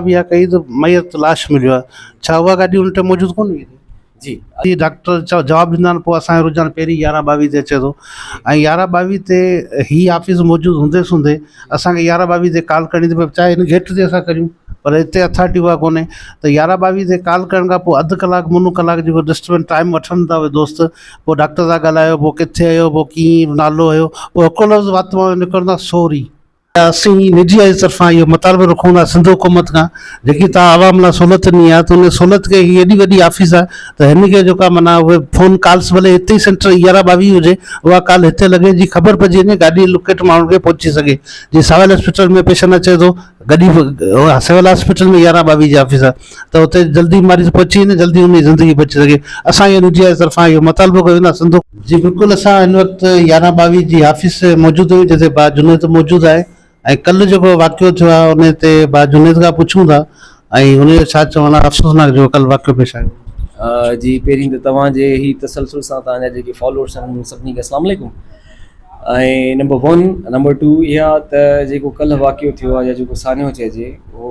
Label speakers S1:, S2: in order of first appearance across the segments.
S1: بي آء ڪئي ته ميت لاش مليو آهي ڇا اها گاڏي ان ٽائيم موجود ڪونه هئي جي جي
S2: ڊاڪٽر
S1: چا جواب ڏيندا آهن پوء اسانجو رجحان پهرين يارهن ٻاويهه تي اچي ٿو ۽ يارهن ٻاويهه تي هي آفيس موجود هوندي سوندي اسانکي يارهن ٻاويهه تي ڪال ڪرڻي ته چاهي هن گيٽ تي اسان ڪريون پر هتي اٿارٽي اها ڪونهي ته يارهن ٻاويهه تي ڪال ڪرڻ کان پوء اڌ ڪلاڪ منو ڪلاڪ جيڪو ڊسٽربنس ٽائيم وٺن ٿا اهي دوست پوء ڊاڪٽر سان ڳالهايو پوء ڪٿي هيو پوء ڪيئن نالو هيو پوء هڪ لفظ وات مان نڪرندا سوري اسين اين جي آئيز طرفان اهو مطالبو رکون ٿا سنڌ حڪومت کان جيڪي توهان عوام لاء سھولت ڏني آهي ته ان سھولت کي هي ايڏي وڏي آفيس آهي ته هن کي جيڪا معنيٰ اهي فون ڪالس ڀلي هتي ئي سينٽر يارهن ٻاويهه هجي اها ڪال هتي لڳي جي خبر پئجي وڃي گاڏي لوڪيٽ ماڻهن کي پهچي سگهي جي سول هاسپيٽل ۾ پيشنٽ اچي ٿو گڏي سول هاسپيٽل ۾ يارهن ٻاويهه جي آفيس آهي ته اتي جلدي مريض پهچي وڃي جلدي ان جي زندگي بچي سگهي اسان اين جي آء جي طرفان اهو مطالبو ڪيو ويندو آهي سنڌو جي بلڪل اسان هن وقت يارهن ٻاويهه جي آفيس موجود آهيون جتي با جنيد موجود آهي ۽ ڪل جيڪو واقعو ٿيو آهي ان تي با جنيد کان پڇون ٿا ۽ ان جو ڇا چوڻ آهي افسوسناڪ جيڪو ڪل واقعو پيش آيو جي پهرين ته
S2: توهان جي هي تسلسل سان توهان جا جيڪي فالورس آهن سڀني کي اسلام عليڪم ۽ نمبر ون نمبر ٽو اها ته جيڪو ڪل واقعو ٿيو آهي يا جيڪو سانحو چئجي اهو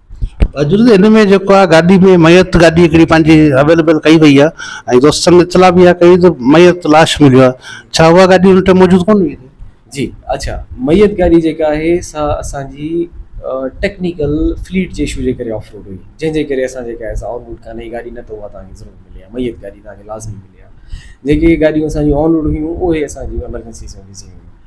S2: اڄ ان ۾ جيڪو
S1: آهي گاڏي ۾ ميت گاڏي هڪڙي پنهنجي اويليبل ڪئي وئي آهي ۽ دوستن اطلاع به اها ڪئي ته ميت لاش مليو آهي ڇا اها گاڏي ان ٽائيم موجود ڪونه هئي جي اڇا
S2: ميت گاڏي جيڪا آهي سا اسان جي ٽيڪنيڪل فليٽ جي اشو جي ڪري آف روڊ هئي جنهن جي ڪري اسان جيڪا آهي آن روڊ ڪانه هئي گاڏي نه ته اها تان کي ضرور ملي آهي ميت گاڏي تان کي لازمي ملي آهي جيڪي گاڏيون اسان جون آن روڊ هيون اهي اسان جون ايمرجنسي سروس جي هيون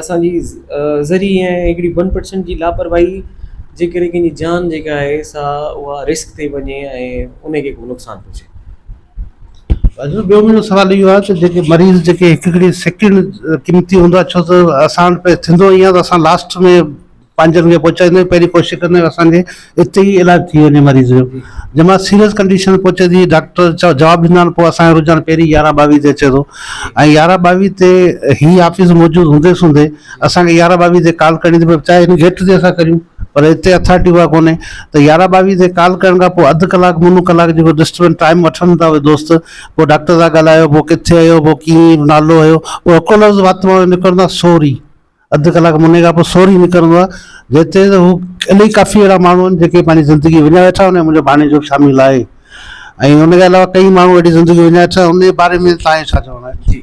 S2: اسان جي ذري ۽ هڪڙي ون پرسنٽ جي لاپرواهي جي ڪري ڪنهن جي جان جيڪا آهي سا اها رسڪ تي وڃي ۽ ان کي ڪو نقصان پهچي.
S1: ٻيو منهنجو سوال اهو آهي ته جيڪي مريض جيڪي هڪ هڪڙي سيڪنڊ قيمتي هوندو آهي ڇو ته اسان وٽ ٿيندو ائين آهي ته اسان لاسٽ ۾ پنهنجن کي پهچائيندو آهي پهرين ڪوشش ڪندو آهي اسان کي اتي ئي علاج ٿي وڃي مريض جو جنهن مهل سيريس ڪنڊيشن ۾ پهچي ٿي ڊاڪٽر جواب ڏيندا آهن پوء اسان جو رجحان پهرين يارهن ٻاويهه تي اچي ٿو ۽ يارهن ٻاويهه تي هي آفيس موجود هوندي سوندي اسان کي يارهن ٻاويهه تي ڪال ڪرڻي ٿي پوي چاهي هن گيٽ تي اسان ڪريون پر هتي اٿارٽي اها ڪونهي ته يارهن ٻاويهه تي ڪال ڪرڻ کان پوء اڌ ڪلاڪ منو ڪلاڪ جيڪو ڊسٽربنس ٽائيم وٺن ٿا اهي دوست پوء ڊاڪٽر سان ڳالهايو پوء ڪٿي آهيو پوء ڪيئن نالو هيو پوء هڪڙو لفظ وات مان نڪرندو آهي سوري اڌ ڪلاڪ موني کان پوء سوري نڪرندو آهي، جنهن تي ته هو الائي ڪافي اهڙا ماڻهو آهن، جيڪي پنهنجي زندگي وڃائي ويٺا آهن، ان ۾ منهنجو ڀاڻيجو به شامل آهي ۽ ان کان علاوه ڪئين ماڻهو اهڙي زندگي وڃائي ويٺا آهن، ان جي باري ۾ توهان کي ڇا چوڻو آهي؟ جي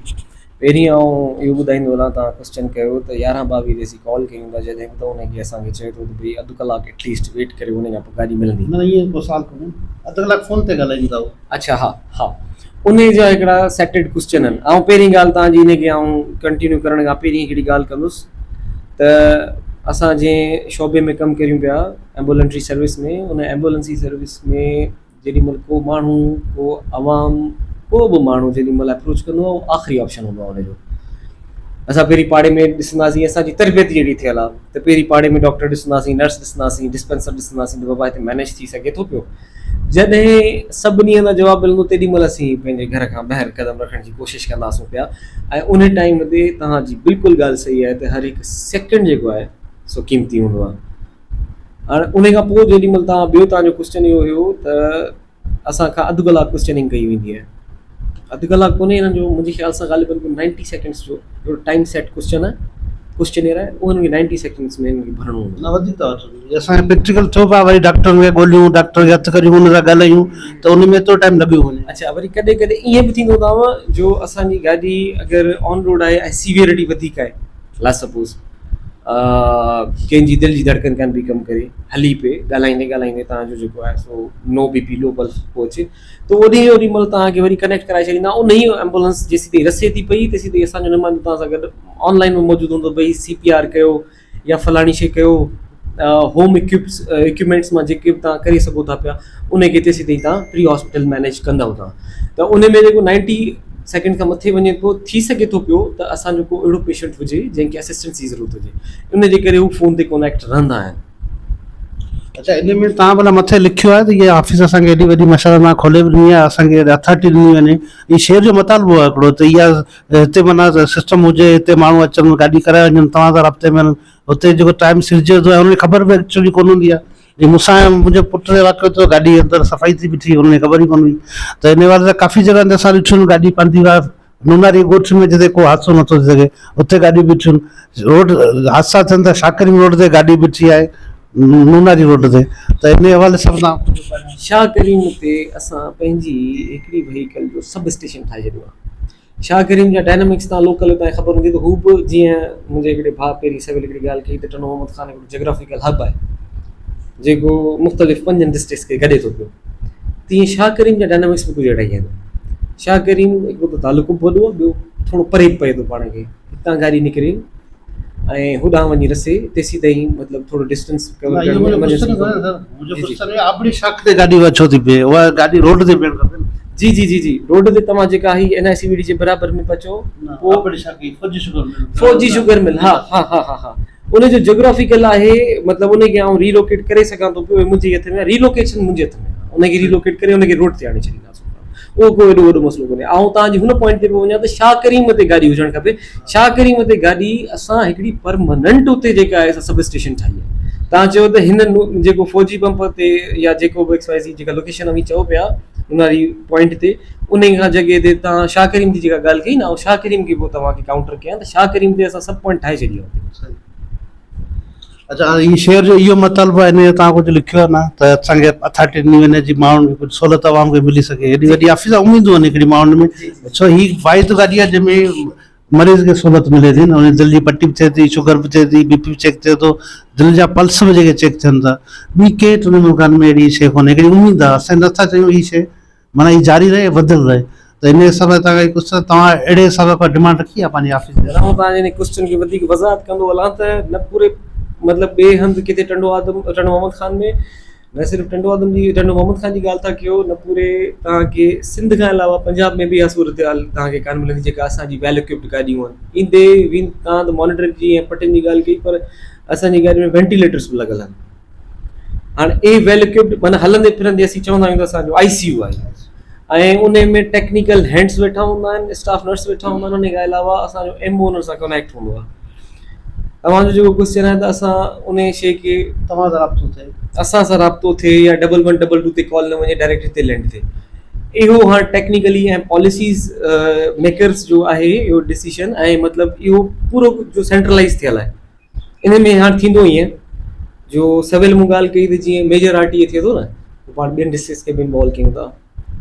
S1: پهرين
S2: آئون اهو ٻڌائيندو هلان ته ڪرسچن ڪيو ته يارهن ٻاويهه تي اسين ڪال ڪيون ٿا، جڏهن به توهان کي اسان کي چئي ٿو ته ڀئي اڌ ڪلاڪ ايٽليسٽ ويٽ ڪريو ان کان پوء گاڏي ملندي. نه نه ائين ڪو سوال ڪونهي،
S1: اڌ ڪلاڪ فون تي ڳالهائيون ٿا اهو. اڇا ها. ها
S2: انهي جا هڪڙا سيٽيڊ ڪوسچن آهن آئون پهرين ڳالهه توهان جي انهي کي آئون ڪنٽينيو ڪرڻ کان پهرين هڪڙي ڳالهه ڪندس ته اسان جنهن شعبي ۾ ڪم ڪريون پيا ايمبولنٽري سروس ۾ ان ايمبولنسي سروس ۾ جيڏي مهل ڪو ماڻهو ڪو عوام ڪو به ماڻهو جيڏي مهل اپروچ ڪندو آهي آخري آپشن هوندو آهي انهي جو اسان پهرين پاڙي ۾ ڏسنداسين اسان جي تربيت ئي اهڙي ٿيل آهي ته پهرين پاڙي ۾ ڊاڪٽر ڏسنداسين نرس ڏسنداسين ڊسپينسر ڏسنداسين ته بابا هتي مينيج ٿي سگهي ٿو پيو جڏهن سڀني ان جواب ملندو تيڏي مهل اسين پنهنجي گهر کان ٻاهر قدم رکڻ جي ڪوشش ڪنداسون پيا ۽ ان ٽائيم تي توهان جي بلڪل ڳالهه صحيح آهي ته هر هڪ سيڪنڊ جيڪو آهي سو قيمتي هوندو آهي هاڻي ان کان پوء جيڏي مهل توهان ٻيو توهان جو ڪوشچن اهو هيو ته اسان کان اڌ ڪلاڪ ڪوشچننگ ڪئي ويندي آهي اڌ ڪلاڪ ڪونهي هنن جو منهنجي خيال سان غالباً ڪو نائنٽي سيڪنڊس جو هڪڙو ٽائيم سيٽ ڪوسچن آهي ڪوسچنيئر آهي اهو هنن کي نائنٽي سيڪنڊس ۾ هنن کي ڀرڻو هوندو نه وڌيڪ ٿا وٺن جي
S1: اسان کي پريڪٽيڪل ٿيو پاء وري ڊاڪٽرن کي ڳوليون ڊاڪٽرن کي هٿ ڪريون ان سان ڳالهايون ته ان ۾ ايترو ٽائيم لڳيو وڃي اڇا وري ڪڏهن ڪڏهن
S2: ائين به ٿيندو هوندو آهيان جو اسان جي گاڏي اگر آن روڊ آهي ۽ سيويئرٽي وڌيڪ آهي لا سپوز ڪنهن جي دل جي ڌڙڪن ڪان پئي ڪم ڪري هلي پئي ڳالهائيندي ڳالهائيندي تنهنجو جيڪو آهي سو نو بي پي لو پلس پهچي ته اوڏي جو اوڏي مھل توھان کي وري ڪنيڪٽ ڪرائي ڇڏيندا انھيء ايمبولنس جيسيتائين رسي ٿي پئي تيسيتائين اسان جو نمائندو توھان سان گڏ آن لائين ۾ موجود ھوندو بھي سي پي آر ڪيو يا فلاڻي شي ڪيو ھوم اڪيوپس اڪيوپمينٽس مان جيڪي به توھان ڪري سگھو ٿا پيا انھي کي تيسيتائين توھان پري ھاسپيٽل مينيج ڪندؤ ٿا ته انھي ۾ جيڪو نائنٽي سيڪنڊ کان مٿي وڃي ٿو ٿي سگھي ٿو پيو ته اسان جو ڪو اھڙو پيشنٽ ھجي جنھن کي اسسٽنس جي ضرورت ھجي انھي جي ڪري ھو فون تي ڪونيڪٽ رھندا آھن
S1: اچا ان ۾ تان بلا مٿي لکيو آهي ته هي آفيس اسان کي ايڏي وڏي مشاءالله تان کولي به ڏني آهي اسان کي اٿارٽي ڏني وڃي هي شهر جو مطالبو آهي هڪڙو ته اها هتي معنيٰ سسٽم هجي هتي ماڻهو اچن گاڏي ڪرائي وڃن توهان سان رابطي ۾ رهن هتي جيڪو ٽائيم سرجي ٿو ان جي خبر به ايڪچولي ڪون هوندي آهي جي مون سان منهنجي پٽ سان واقعو ٿيو گاڏي اندر صفائي ٿي بيٺي هن کي خبر ئي ڪون هئي ته ان حوالي سان ڪافي جڳهن تي اسان ڏٺيون آهن گاڏي پنڌي ويا نوناري ڳوٺ ۾ جتي ڪو حادثو نٿو ٿي سگهي اتي گاڏيون بيٺيون روڊ حادثا ٿين ٿا شاڪرين روڊ تي گاڏي بيٺي آهي نوناري روڊ تي ته ان حوالي سان تان ڪجهه ٻڌايو شاهه ڪريم تي
S2: اسان پنهنجي هڪڙي وهيڪل جو سب اسٽيشن ٺاهي ڇڏيو آهي شاهه ڪريم جا ڊائنامڪس تان لوڪل هتان جي خبر هوندي ته هو به جيئن منهنجي هڪڙي ڀاء پيري سويل هڪڙي ڳالهه ڪئي ته ٽنو محمد خان جاگرافيڪل هب آهي جيڪو مختلف پنجن ڊسٽرڪس کي گڏي ٿو پيو تيئن شاهه ڪريم جا ڊائنامڪس به ڪجهه اهڙا ئي آهن شاهه ڪريم هڪ ته تعلقو به وڏو ٻيو ٿورو پري به پئي ٿو پاڻ کي هتان گاڏي نڪري ۽ هوڏانهن وڃي رسي تيسي تائين مطلب ٿورو ڊسٽنس
S1: جي جي جي جي
S2: روڊ تي توهان جيڪا هي N I C V D جي برابر ۾ پچو فوجي شگر مل ها ها ها ها ها ان جو جيوگرافيڪل آهي مطلب ان کي آئون ري لوڪيٽ ڪري سگهان ٿو پيو منهنجي هٿ ۾ ري لوڪيشن منهنجي هٿ ۾ ان کي ري لوڪيٽ ڪري ان کي روڊ تي آڻي ڇڏينداسون اهو ڪو ايڏو وڏو مسئلو ڪونهي آئون تان جي هن پوائنٽ تي پيو وڃان ته شاهه ڪريم تي گاڏي هجڻ کپي شاهه ڪريم تي گاڏي اسان هڪڙي پرماننٽ اتي جيڪا آهي سب اسٽيشن ٺاهي آهي تان چيو ته هن جيڪو فوجي پمپ تي يا جيڪو به ايڪس وائي زي جيڪا لوڪيشن اوهين چئو پيا ان واري پوائنٽ تي انهي کان جڳهه تي توهان شاهه ڪريم جي جيڪا ڳالهه ڪئي نه آئون شاهه ڪريم کي به توهان کي ڪائونٽر ڪيان ته شاهه ڪريم تي اسان سڀ پوائنٽ ٺاهي ڇڏيا هتي.
S1: اچا هاڻي هي شعر جو اهو مطلب آهي هن جو توهان ڪجهه لکيو آهي نه ته اسان کي اٿارٽي ڏني وڃي جي ماڻهن کي ڪجهه سهولت عوام کي ملي سگهي هيڏي وڏي آفيس آهي اميدون آهن هڪڙي ماڻهن ۾ ڇو هي واحد گاڏي آهي جنهن ۾ مريض کي سھولت ملي ٿي ان جي دل جي پٽي به ٿئي ٿي شگر به ٿئي ٿي بي پي به چيڪ ٿئي ٿو دل جا پلس به جيڪي چيڪ ٿين ٿا ٻي ڪي ٽن ملڪن ۾ اھڙي شي ڪونھي ھڪڙي اميد آھي اسين نٿا چاھيون ھي شي معنيٰ ھي جاري رھي وڌل رھي ته ان حساب سان ڪجھ ڪجھ ته توھان اھڙي حساب سان ڪا ڊمانڊ رکي آھي پنھنجي آفيس جي ھيٺان توھان انھي ڪوسچن جي
S2: وڌيڪ وضاحت ڪندو ھلان ته نه پوري مطلب ٻي ھنڌ ڪٿي ٽنڊو آدم ٽنڊو محمد خان ۾ نه صرف ٽنڊو آدم جي ٽنڊو محمد خان جي ڳالهه ٿا ڪيو نه پوري توهان کي سنڌ کان علاوه پنجاب ۾ به اها صورتحال توهان کي ڪانه ملندي جيڪا اسان جي ويل اڪوپڊ گاڏيون آهن ايندي ويندي توهان ته مانيٽرنگ جي ۽ پٽين جي ڳالهه ڪئي پر اسان جي گاڏين ۾ وينٽيليٽرس به لڳل آهن هاڻي اهي ويل اڪوپڊ معنيٰ هلندي پھرندي اسين چوندا آهيون ته اسان جو آئي سي يو آهي ۽ ان ۾ ٽيڪنيڪل هينڊس ويٺا هوندا آهن اسٽاف نرس ويٺا هوندا آهن ان کان علاوه اسان جو ايم او ان سان ڪنيڪٽ هوندو آهي اوهان جو جيڪو ڪوئسچن آهي ته اسان انهي شئي کي توهان سان رابطو ٿئي
S1: اسان سان رابطو
S2: ٿئي يا ڊبل ون ڊبل ٽو تي ڪال نه وڃي ڊائريڪٽ هتي لينڊ ٿئي اهو هاڻ ٽيڪنيڪلي ۽ پاليسيز ميڪرز جو آهي اهو ڊسيشن ۽ مطلب اهو پورو جو سينٽرلائز ٿيل آهي ان ۾ هاڻ ٿيندو ائين جو سويل مون ڳالهه ڪئي ته جيئن ميجر آر ٽي اي ٿئي ٿو نه پاڻ ٻين ڊسٽرڪس کي به انوالو ڪيون ٿا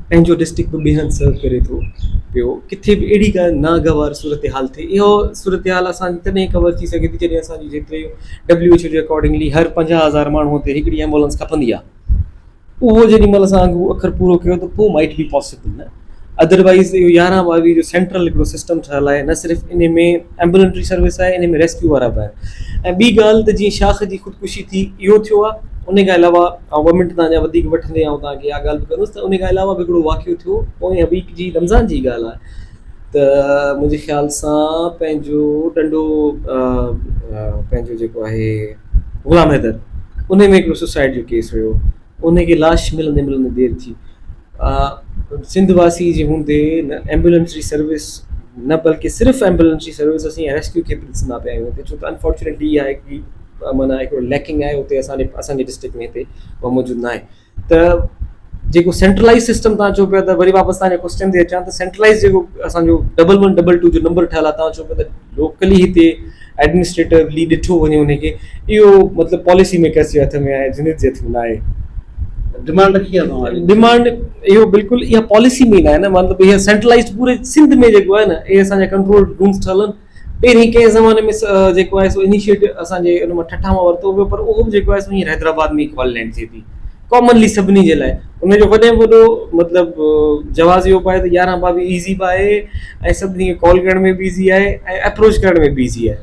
S2: پنهنجو ڊسٽرڪٽ به ٻيهر سرو ڪري ٿو پيو ڪٿي به اهڙي ڪا ناگوار صورتحال ٿئي اهو صورتحال اسان تڏهن ڪور ٿي سگهي ٿي جڏهن اسانجي جيتري ڊبليو ايڇ او جي اڪارڊنگلي هر پنجاهه هزار ماڻهو تي هڪڙي ايمبولنس کپندي آهي اهو جيڏي مهل اسان اهو اکر پورو ڪيو ته پوء مائٽ بي پاسبل نه ادروائز اهو يارهن ٻاويهه جو سينٽرل هڪڙو سسٽم ٺهيل آهي نه صرف ان ۾ ايمبولينٽري سروس آهي انهي ۾ ريسڪيو وارا به آهن ۽ ٻي ڳالهه ته جيئن شاخ جي خودڪشي ٿي اهو ٿيو آهي انهي کان علاوه آئون ٻه منٽ تهان جا وڌيڪ وٺندي آئون تهان کي اها ڳالهه به ڪندس ته انهي کان علاوه به هڪڙو واقعو ٿيو پوئين ويڪ جي رمضان جي ڳالهه آهي ته منهنجي خيال سان پنهنجو ٽنڊو پنهنجو جيڪو آهي غلام حيدر انهي ۾ هڪڙو سوسائيڊ جو ڪيس هيو انهيء کي لاش ملندي ملندي دير ٿي. سنڌ واسي جي هوندي نه ايمبولينس جي سروس نه بلڪه صرف ايمبولينس جي سروس اسين ۽ ريسڪيو کي به ڏسندا پيا آهيون هتي ڇو ته انفارچونيٽلي اها هڪڙي معنيٰ هڪڙو ليڪنگ آهي هتي اسان جي اسان جي ڊسٽرڪٽ ۾ هتي اها موجود ناهي ته جيڪو سينٽرلائز سسٽم تان چئو پيا ته وري واپس تان جي ڪوسچن تي اچان ته سينٽرلائز جيڪو اسان جو ڊبل ون ڊبل ٽو جو نمبر ٺهيل آهي تان چئو پيا ته لوڪلي هتي ايڊمنسٽريٽوولي ڏٺو وڃي انهي کي اهو مطلب پاليسي ميڪرز جي هٿ ۾ آهي جنت جي هٿ ۾ نه آهي. ڊمانڊ
S1: رکي آهي توهان جي. ڊمانڊ اهو
S2: بلڪل اها پاليسي ۾ نه آهي نه مطلب اها سينٽرلائيزڊ پوري سنڌ ۾ جيڪو آهي نه اهي اسان جا ڪنٽرول رومز ٺهيل آهن پهرين ڪنهن زماني ۾ جيڪو آهي سو انيشيٽو اسان جي ان مان ٺٺا مان ورتو ويو پر اهو به جيڪو آهي سو هينئر حيدرآباد ۾ ئي کولي لينڊ ٿئي ٿي. ڪامنلي سڀني جي لاء ان جو وڏي ۾ وڏو مطلب جواز اهو به آهي ته يارهن ٻاويهه ايزي به آهي ۽ سڀني کي ڪال ڪرڻ ۾ به ايزي آهي ۽ اپروچ ڪرڻ ۾ به ايزي آهي.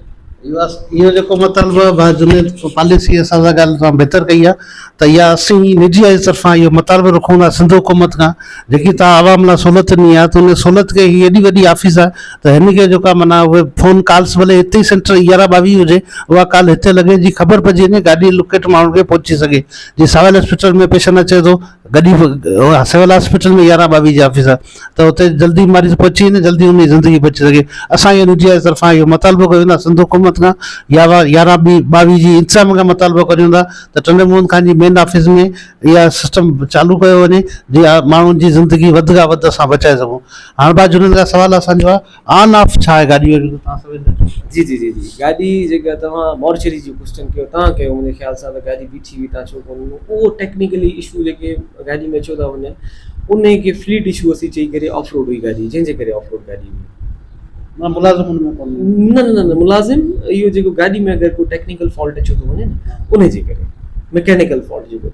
S2: اهو جيڪو
S1: مطالبو آهي ڀاء جنيد پاليسي اسان سان ڳالهه توهان بهتر ڪئي آهي ته اها اسين نجي آئي طرفان اهو مطالبو رکون ٿا سنڌ حڪومت کان جيڪي توهان عوام لاء سهولت ڏني آهي ته ان سهولت کي هي ايڏي وڏي آفيس آهي ته هن کي جيڪا معنيٰ اهي فون ڪالس ڀلي هتي ئي سينٽر يارهن ٻاويهه هجي اها ڪال هتي لڳي جي خبر پئجي وڃي گاڏي لوڪيٽ ماڻهن کي پهچي سگهي جي سول اسپتال ۾ پيشنٽ اچي ٿو گڏي سول اسپتال ۾ يارهن ٻاويهه جي آفيس آهي ته اتي جلدي ماريض پهچي وڃي جلدي ان جي زندگي بچي سگهي اسان ايئن نجي آيس طرفان اهو مطالبو ڪيو ويندو سنڌ حڪومت کان يا يارهن ٻي ٻاويهه جي انتظام کان مطالبو ڪري ويندا ته ٽنڊي موهن خان جي مين آفيس ۾ اها سسٽم چالو ڪيو وڃي جي ماڻهن جي زندگي وڌ کان وڌ اسان بچائي سگهون هاڻ بات جنهن سوال اسانجو آهي آن آف ڇا آهي گاڏي جو توهان سمجهندا ڪيو. جي جي
S2: جي جي گاڏي جيڪا توهان مارچري جو ڪوسچن ڪيو توهان ڪيو منهنجي خيال سان ته گاڏي بيٺي هئي توهان ڇو ڪونه ڏنو اهو ٽيڪنيڪلي اشو جيڪي گاڏي ۾ اچيو ٿا وڃن ان کي فليٽ اشو اسين چئي ڪري آف روڊ هئي گاڏي جنهن جي ڪري آف روڊ گاڏي هئي مطلب ملازم ان ۾ ڪونه نه نه نه ملازم اهو جيڪو گاڏي ۾ اگر ڪو ٽيڪنيڪل فالٽ اچيو ٿو وڃي نه ان جي ڪري ميڪينيڪل فالٽ جيڪو